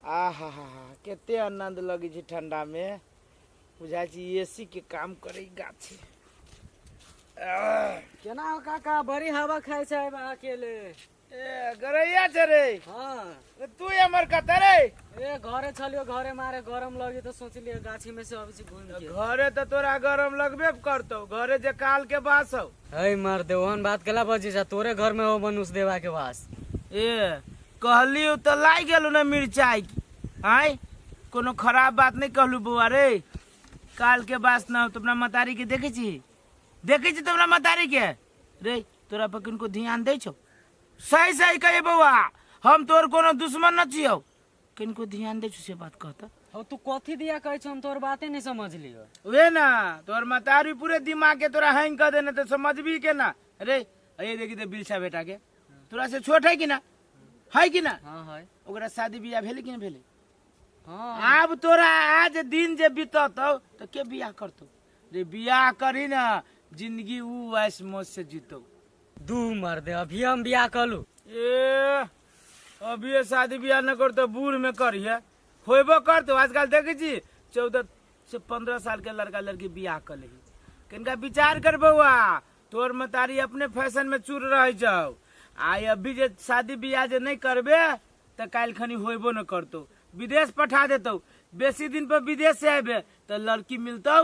आहा हा हा कते आनंद लगे छै ठंडा में बुझाई छै एसी के काम करे गाछी केना हो काका बड़ी हवा खाय छै बा अकेले ए गरैया छै रे हाँ ए, तू हमर कते रे ए घरे छलियो घरे मारे गरम लगी तो सोचलिए गाछी में से अभी से घूम के घरे तो तोरा गरम लगबे करतौ घरे जे काल के बास हौ है मार दे ओहन बात केला बजे जा तोरे घर में हो मनुष्य देवा के वास ए कहली हो तो लाई गेलू ना मिर्चाई की आय कोनो खराब बात नहीं कहलू बउआ रे काल के बास ना हो तो अपना मतारी के देखे छी देखे छी तो अपना मतारी के रे तोरा पर किनको ध्यान दे छो सही सही कहे बउआ हम तोर कोनो दुश्मन न छियो किनको ध्यान दे छो से बात कहता हो तू कथी दिया कहै छ हम तोर बाते नहीं समझलियो वे ना तोर मतारी पूरे दिमाग के तोरा हैंग कर देने तो समझ भी के ना अरे ये देखी तो बिलसा बेटा के तोरा से छोट है कि ना है कि ना हाँ है ओकरा शादी बियाह भेले कि ना भेले हाँ आब तोरा आज दिन जे बिततौ तो के बियाह करतौ रे बियाह करी ना जिंदगी ऊ ऐस मौज से जीतौ दू मर दे अभी हम बियाह कलू ए अभी ये शादी बियाह न करतो बूढ़ में करिए होइबो करतो आजकल देखै छी चौदह से पंद्रह साल के लड़का लड़की बियाह कर लेही कनिका विचार कर बौआ तोर मतारी अपने फैशन में चूर रहे जाओ आय अभी जे शादी ब्याह जे नहीं करबे तो काल खनी होबो न करतो विदेश पठा देतो बेसी दिन पर विदेश से आबे तो लड़की मिलतो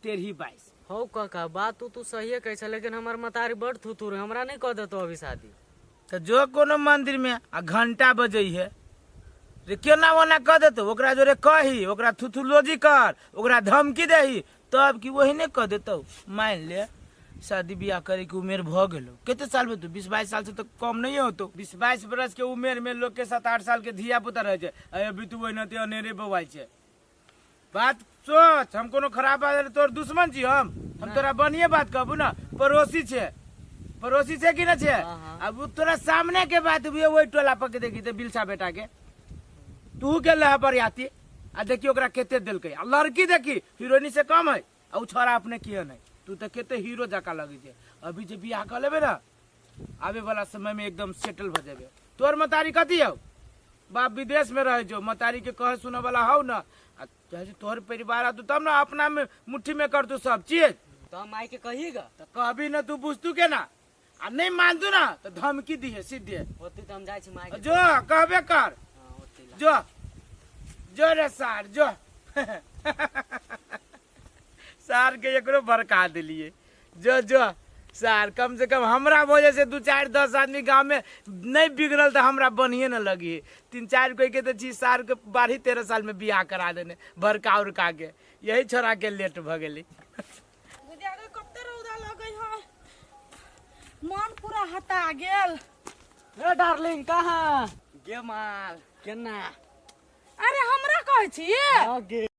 तेरही बाईस हौ काका बात तू तू सहिए कहै छै लेकिन हमर मतारी बड़ थुथुर है, हमरा नहि कऽ देतौ अभी शादी तऽ जो कोनो मन्दिरमे आ घण्टा बजैहे जे केना ओना कऽ देतौ ओकरा जोरे कही ओकरा थुथुलोजी कर ओकरा धमकी दही तब कि ओहने कऽ देतौ मानि ले शादी बियाह करैके उमेर भऽ गेलौ कते साल भेल तू बीस बाइस सालसँ तऽ कम नहि होतौ बीस बाइस बरसके उमेरमे लोकके सात आठ सालके धिया पुता रहै छै आ अभी तू ओहिना ते अनेरे बौआइ छै बात सोच हम कोनो खराब बात अरे तोर दुश्मन छी हम हम तोरा बढ़िए बात कहबू ना पड़ोसी छे पड़ोसी छे कि ना छे अब उ तोरा सामने के बात भी वही टोला पर के देखी ते बिलसा बेटा के तू के लह पर आती आ देखी ओकरा केते देलकै आ लड़की देखी हीरोइनी से कम है आ उ छोरा अपने किए नहीं तू तो केते हीरो जका लगी छे अभी जे बियाह कर लेबे ना आवे वाला समय में एकदम सेटल भ जाबे तोर मतारी कथी हौ बाप विदेश में रहे जो मतारी के कहे सुने वाला हौ न आ जैसे तोहर परिवार आतू तब ना अपना में मुट्ठी में कर तू सब चीज तो हम माई के कहिएगा तो कहबी न तू बुझतू के ना आ नहीं मानतू ना तो धमकी दिहे सीधे होती तो हम जाए छी माई के जो कहबे कर हाँ, होती ला। जो जो रे सार जो सार के एकरो भड़का दिलिए जो जो सार कम से कम हमरा वजह से दू चार दस आदमी गांव में नहीं बिगड़ल तो हमरा बढ़िए न लगी तीन चार कोई के तो छी सार के बारह तेरह साल में बियाह करा देने भड़का उड़का के यही छोड़ा के लेट भ गेली बुझागे कते रौदा लगै है मन पूरा हता गेल ए डार्लिंग कहाँ गे माल केना अरे हमरा कहै छी गे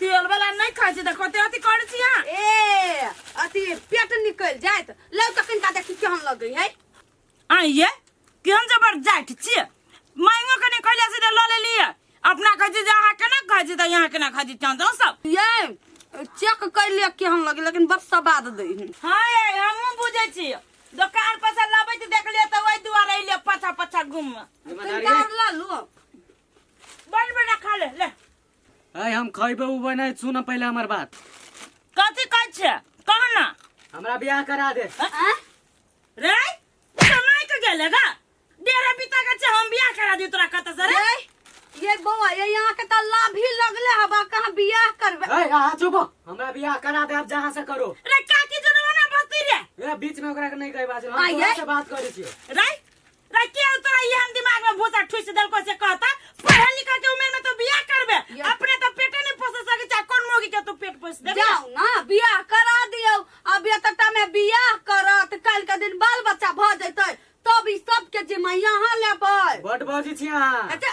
तेल वाला नहीं खाई छी देखो ते अथी करे छी हां ए अथी पेट निकल जात लौ तखन का देखी केहन लगे है आइए केहन जबर जाट छी मांगो कने कहले से ल ले लिए अपना कह जे अहाँ केना कह जे यहाँ केना खा जे चांद सब ये चेक कर लिया केहन लगे लेकिन बस सवाद दे हां ये हमहु बुझे छी दुकान पर से लाबे छी देख लिए त ओइ दुआरे ले पछा पछा घूम दुकानदार ला लो बन बना खा ले ले आय हम खैबे उ बने सुन पहले हमर बात कथी कहै छै कह ना हमरा बियाह करा दे आँय? रे समय के गेले गा डेरा बिता के छै हम बियाह करा दी तोरा कत से रे रे, ये बौआ ये यहाँ के तो लाभ ही लगले हवा कहाँ बियाह करबे ए आहा चुप हो। हमरा बियाह करा दे अब जहां से करो रे काकी जनवा ना बस्ती रे ए बीच में ओकरा के नहीं कहे बात हम आइए। तोरा से बात करै छियै रे रे के हो तोरा ये हम दिमाग में भूसा ठुस देलको से कहता पढ़े लिखे के उम्र में तो बियाह करबे या। अपने तो पेटे नहीं पोस सके चाहे कौन मोगी के तू पेट पोस दे जाओ ना बियाह करा दियो अब एतटा में बियाह करत काल के दिन बाल बच्चा भ जैतै तब ई सब के जिम्मा यहाँ लेबै बड बाजी छी अहाँ अच्छा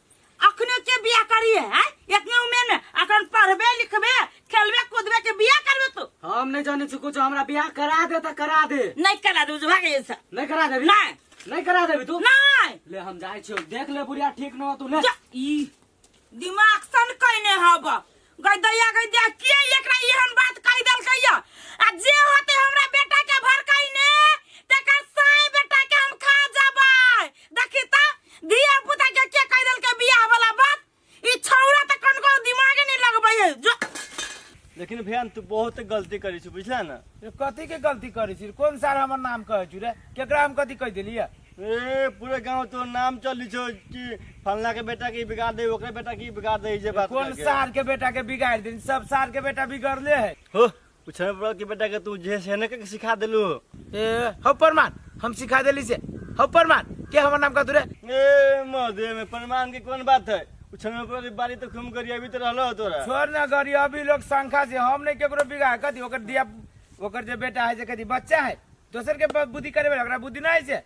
अखने के बिया करिए हैं इतने उम्र में अखन पढ़बे लिखबे खेलबे कूदबे के बिया करबे तू हम नहीं जाने छी कुछ हमरा बियाह करा दे त करा दे नहीं करा दू भाग ये सब नहीं करा देबी नहीं नहीं करा देबी तू नहीं ले हम जाय छियो देख ले बुढ़िया ठीक न हो तू ले जा, ई दिमाग सन कहने हब गैदैया गैदैया के एकरा एहन बात कहि देलकै या आ जे होते हमरा बेटा के भड़काई ने तेकर साय बेटा के हम खा जाबै देखी त धिया पुता के के कहि देलकै बियाह वाला बात ई छौरा त कनको दिमागे नहीं लगबै है जो लेकिन भैया तू बहुत गलती करी छी बुझला ना ये कथी के गलती करै छी कोन सार हमर नाम कहै छी रे केकरा हम कथी कहि देलियै ए पूरे गांव तो नाम चली छो कि फलना के बेटा के बिगाड़ दे ओकरे बेटा की बिगाड़ दे जे बात कौन करके। सार के बेटा के बिगाड़ दिन सब सार के बेटा बिगड़ले है हो कुछ नहीं पड़ा कि बेटा के तू जे सेने के सिखा देलू ए हो परमान हम सिखा देली से हो परमान के हमर नाम का तुरे ए मधे में प्रमाण के कौन बात है कुछ नहीं पड़ा कि बारी तो खूम करी अभी तो रहलो तोरा छोड़ ना गरी अभी लोग शंका से हम नहीं केकरो बिगाड़ कथी ओकर दिया ओकर जे बेटा है जे कथी बच्चा है दोसर के बाप बुद्धि करे वाला ओकरा बुद्धि ना आइसे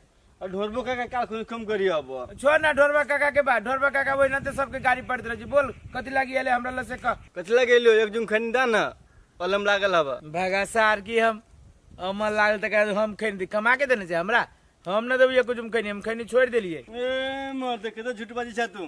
और ढोरबो का काल खुन कम करी अब छोड़ ना ढोरबा काका के बात ढोरबा काका वही ना तो सबके गाड़ी पड़त रहे बोल कथी लागी आले हमरा लसे का कतला गेलो एक जुम खनी दा ना पलम लागल हवा भगा सार की हम अमल लागल तक हम खैनी दी कमा के देने से हमरा हम ना देबी कुछ हम खैनी हम खैनी छोड़ देलिए ए मर दे के तो झूठ बाजी छा तू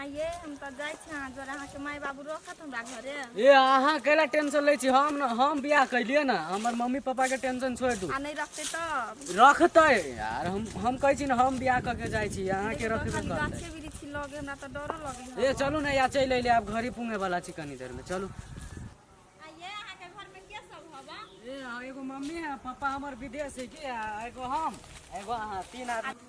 आइए हम तऽ जाइ छी अहाँ जरा अहाँके माय बाबू रखत हमरा घरे ए अहाँ कैला टेंशन लै छी हम न- हम बियाह कैलिए ना हमर मम्मी पापा के टेंशन छोड़ दू आ नहीं रखते तब रखते यार हम हम कहै छी ना हम बियाह करके जाइ छी अहाँ के रखबे खाली करते गाछे वृक्ष लगे हमरा तऽ डरो लगे ए चलू ना या चलि अइले आब घरे पुंगे वाला छी कनी देर में चलू आइए अहाँके घरमे के सब हवा ए हाँ, एगो मम्मी है पापा हमर विदेश है के आ एगो हम एगो अहाँ तीन आदमी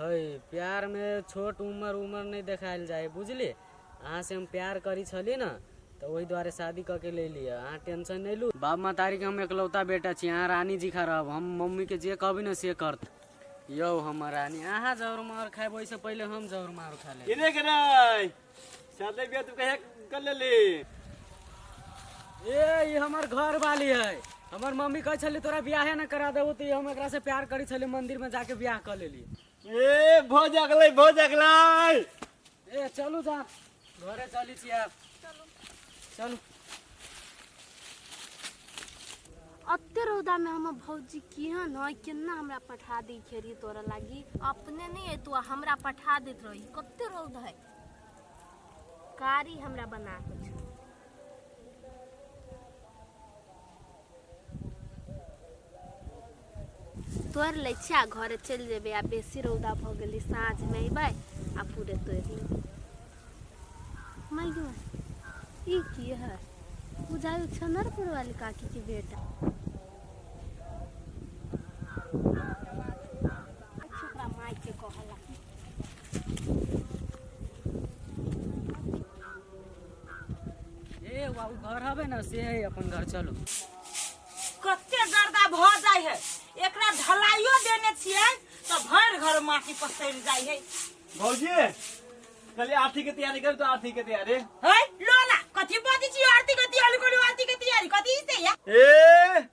है प्यार में छोट उम्र उम्र नहीं देखायल जाए बुझली अहाँ से हम प्यार करी छली ना तो वही द्वारे शादी क के ले लिया अहाँ टेंशन नहीं लू बाप मतारी के हम एकलौता बेटा छी अहाँ रानी जी खा रहब हम मम्मी के जे कहबी ना से करत यौ हमर रानी अहाँ जौर मार खाए वैसे पहले हम जौर मार खा ले इने के नहीं शादी बियाह तू कहे कर लेली ए ई हमर घर वाली है हमर मम्मी कहै छली तोरा बियाहे न करा देबो तऽ ई हम एकरा से प्यार करै छली मंदिर में जाके बियाह कर लेली ए भो जगलै भो जगलै ए चलू जा घरे चली छी आब चलू अते रौदा में हमर भौजी केहन है केना हमरा पठा दी खेरी तोरा लागी अपने नहीं अयतू आ हमरा पठा देत रही कते रौद है कारी हमरा बना के छो तोड़ लै छियै आ घरे चलि जेबै आ बेसी रौदा भऽ गेलै साँझमे अयबै आ पूरे तोड़ि लेबै माइयो ई की है बुझाइ छनरपुर वाली काकी के बेटा छोकरा माय के कहला ए बाबू घर हवे ना से है अपन घर चलो कते गर्दा भ जाय है एकरा ढलाइयो देने छियै तो भर घर माटी पसैर जाय है भौजी कल आरती के तैयारी कर तो आरती के तैयारी है लोला कथी बाजी छी आरती कथी अलगोली आरती के तैयारी कथी से या ए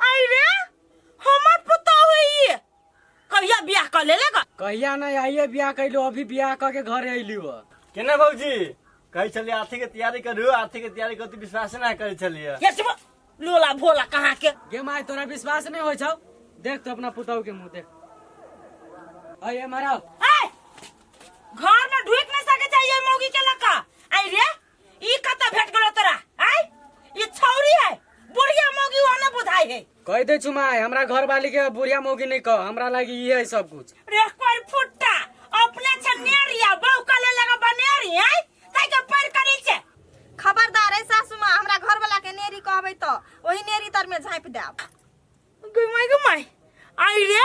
आई रे हमर पुतौ है ये कहिया बियाह कर ले लगा कहिया नहीं आइए ब्याह कैलो अभी ब्याह करके घर अयली हो केना भौजी कहै छलियै आरती के तैयारी करू आरती के तैयारी करू विश्वास नहि करै छलियै ये सब लोला भोला कहाँ के गे माय तोरा विश्वास नहीं हो छौ देख तो अपना पुतौ के मुंह देख अये मारा ए घर में ढुक नहीं सके चाहिए मौगी के लका आई रे ई कत भेट गेलो तोरा आय ई छौरी है बुढ़िया मौगी वहां न बुझाई है कह दे चुमाय हमरा घर वाली के बुढ़िया मौगी नहीं कह हमरा लागी ई है सब कुछ रे कोई फुट्टा अपने से नेरिया बहु कले लगा बनेरी है ताई के पर करी छे खबरदार है सासू माँ हमरा घर वाला के नेरी कहबे तो वही नेरी तर में झाँप देब गई माई गई माई आई रे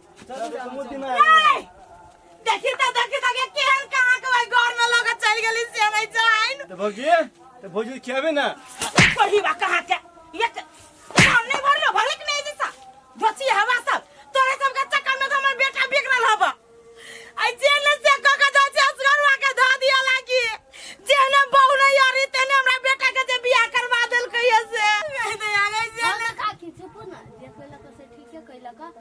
देखी त देखी त के केहन कहां के ओइ घर में लगे चल गेली से नहीं जाइन तो भौजी तो भौजी खियाबे ना पढ़ी बा कहां के ये त- काम नहीं भर लो भले के नहीं जैसा बची हवा सब तोरे सब के चक्कर में तो हमर बेटा बिगड़ल हवा आई जेल से क के जा जा असगरवा के ध दिया लागी जेने बहु नहीं यारी तेने हमरा बेटा के जे बियाह करवा देल कहिए से नहीं दे आ गई जेल हमरा का की चुप ना जे कैला तो से ठीके कैला का